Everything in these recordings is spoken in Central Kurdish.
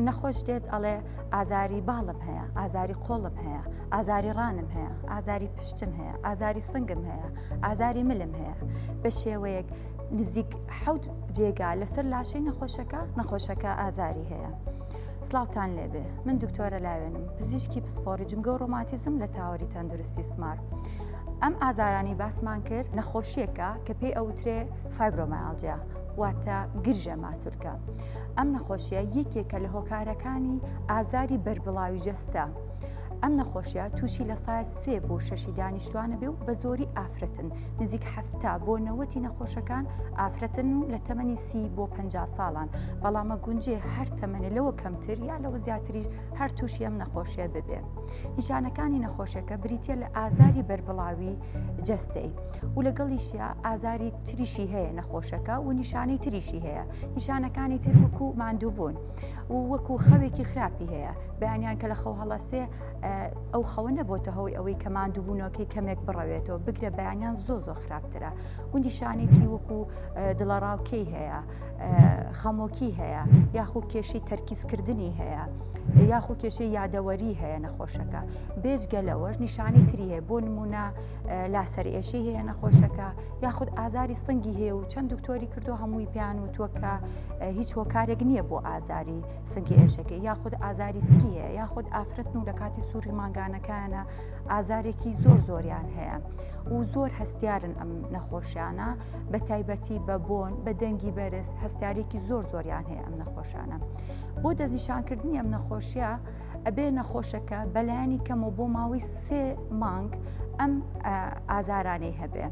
نەخۆش دێت ئەڵێ ئازاری باڵم هەیە ئازاری قۆڵم هەیە ئازاری ڕانم هەیە ئازاری پشتم هەیە ئازاری سنگم هەیە ئازاری ملم هەیە بە شێوەیەک نزیک حەوت جێگا لەسەر لاشەی نەخۆشەکە نەخۆشەکە ئازاری هەیە. سلااوان لێبێ من دکتۆرە لاوێنم پزیشکی پسپۆری جمگە و ڕۆماتیزم لە تاوەری تەندروستی سمار. ئەم ئازارانی باسمان کرد نەخۆشیەکە کە پێی ئەوترێ فایبرۆمایالجیا واتە گرژە ماسولکە. ئەم نەخۆشیە یەکێکە لە هۆکارەکانی ئازاری بەربڵاوی جەستە. ئەم نەخۆشیە تووشی لە سای سێ بۆ شەشی دانیشتوانە بێ و بە زۆری ئافرەتن نزیک هەفتا بۆ نەوەتی نەخۆشەکان ئافرەتن و لە تەمەنی سی بۆ پ ساڵان بەڵامە گونجێ هەر تەمەێ لەوە کەمتر یا لەوە زیاتری هەر تووشی ئەم نەخۆشیە ببێ نیشانەکانی نەخۆشەکە بریتە لە ئازاری بەربڵاوی جەستەی و لەگەڵیشە ئازاری تریشی هەیە نەخۆشەکە و نیشانەی تریشی هەیە نیشانەکانی تر وەکو ماندووبوون و وەکو خەوێکی خراپی هەیە بەیانیان کە لە خەو هەڵەسێ ئەو خەوە نەبۆتە هەوەی ئەوەی کە ماندووبوونەوەکەی کەمێک بڕەوێتەوە بگرە بەیانیان زۆ زۆ خراپترە گوندی شانی تری وەکو دڵەڕاوکەی هەیە خەمۆکی هەیە یاخو کێشەی تەرکیزکردنی هەیە یاخو کێشەی یادەوەری هەیە نەخۆشەکە بێجگە لەوەش نیشانی تری هەیە بۆ نمونە لاسەر ئێشەی هەیە نەخۆشەکە یاخود ئازاری سنگی هەیە و چەند دکتۆری کردو هەمووی پێیان وتووە کە هیچ هۆکارێک نییە بۆ ئازاری سنگی ئێشەکە یاخود ئازاری سکی هەیە یاخود ئافرەتن و لە کاتی سووری مانگانەکانە ئازارێکی زۆر زۆریان هەیە و زۆر هەستیارن ئەم نەخۆشیانە بە تایبەتی بە بۆن بە دەنگی بەرز هەستارێکی زۆر زۆریان هەیە ئەم نەخۆشانە بۆ دەستنیشانکردنی ئەم نەخۆشیە ئەبێ نەخۆشەکە بەلایانی کەمەوە بۆ ماوەی سێ مانگ ئەم ئازارانەی هەبێ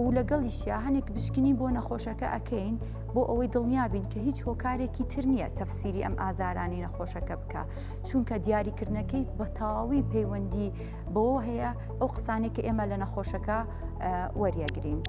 و لەگەڵیشیا هەنێک بشکنی بۆ نەخۆشەکە ئەەکەین بۆ ئەوەی دڵنیابین کە هیچ هۆکارێکی تر نییە تەفسیری ئەم ئازارانی نەخۆشەکە بکە چونکە دیاریکردنەکەی بە تەواوی پەیوەندی بەوە هەیە ئەو قسانێک کە ئێمە لە نەخۆشەکە وەریەگرین.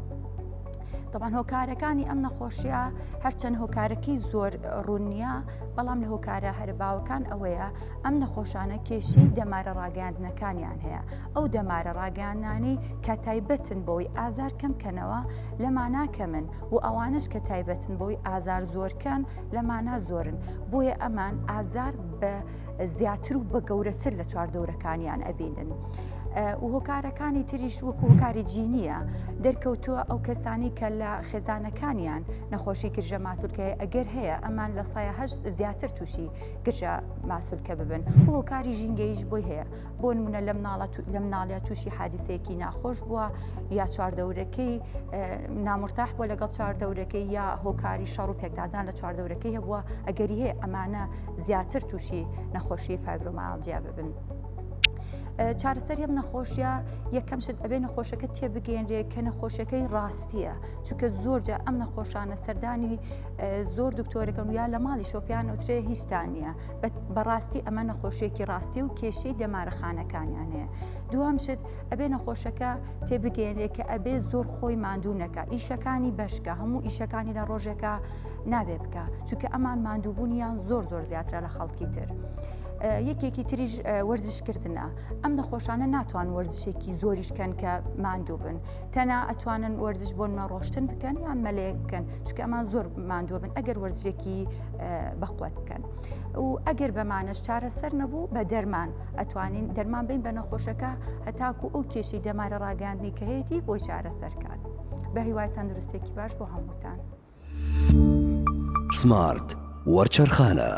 تەبان هۆکارەکانی ئەم نەخۆشیە هەرچەند هۆکارەکەی زۆر ڕوونیە بەڵام لە هۆکارە هەرباوەکان ئەوەیە ئەم نەخۆشانە کێشەی دەمارە ڕاگەاندنەکانیان هەیە ئەو دەمارە ڕاگەانانی کە تایبەتن بۆی ئازار کەمکەنەوە لەمانا کەمن و ئەوانش کە تایبەتن بۆی ئازار زۆرکەن لەمانا زۆرن بۆیە ئەمان ئازار بە زیاتر و بە گەورەتر لە چواردەورەکانیان ئەبینن. وهۆکارەکانی تریش وەکو هۆکاری جینیە دەرکەوتووە ئەو کەسانی کە لە خێزانەکانیان نەخۆشی گرژە ماسولکەیە ئەگەر هەیە ئەمان لە سایهشت زیاتر تووشی گرژە ماسولکە ببن هۆکاری ژینگەیش بۆی هەیە بۆ نمونە لە مناڵەت لە مناڵە تووشی حادیسەیەکی ناخۆش بووە یا چواردەورەکەی نامرتاح بووە لەگەڵ چواردەورەکەی یا هۆکاری شەڕ و پێکدادان لە چواردەورەکەی هەبووە ئەگەری هەیە ئەمانە زیاتر تووشی نەخۆشی فایبرۆماڵجیا ببن. چارەسەر هەم نەخۆشیە یەکەم شت ئەبێ نەخۆشەکە تێبگەێنرێ کە نەخۆشەکەی ڕاستیە چونکە زۆرجە ئەم نەخۆشانە سەردانی زۆر دکتۆرەکەم یا لە ماڵی شۆپیان وترێ هیچتان نیە بەڕاستی ئەمە نەخۆشیێکی ڕاستی و کێشەی دەمارەخانەکانیان هەیە دوام شت ئەبێ نەخۆشەکە تێبگەێنێ کە ئەبێ زۆر خۆی ماندوو نەکە ئیشەکانی بەشکە هەموو ئیشەکانی لە ڕۆژێکە نابێ بکە چونکە ئەمان ماندووبوونیان زۆر زۆر زیاترە لە خەڵکی تر. یەکێکی تریش وەرزشکردە ئەم نەخۆشانە ناتوان وەرزشێکی زۆریشکەن کە ماندوو بن تەنا ئەتوانن وەرزش بۆن مەڕۆشتن بکەن یان مەلەیە بکەن چکەمان زۆر ماندووە بن ئەگەر وەرزشێکی بەقوت بکەن و ئەگەر بەمانەش چارەسەر نەبوو بە دەرمان ئەتوانین دەرمان بین بە نەخۆشەکە هەتاکو ئەو کێشی دەمارە ڕاگەاندنی کە هەیەی بۆی چارەسەر کات بە هیوای تەندروستێکی باش بۆ هەمووتان سمارت وەرچەرخانە.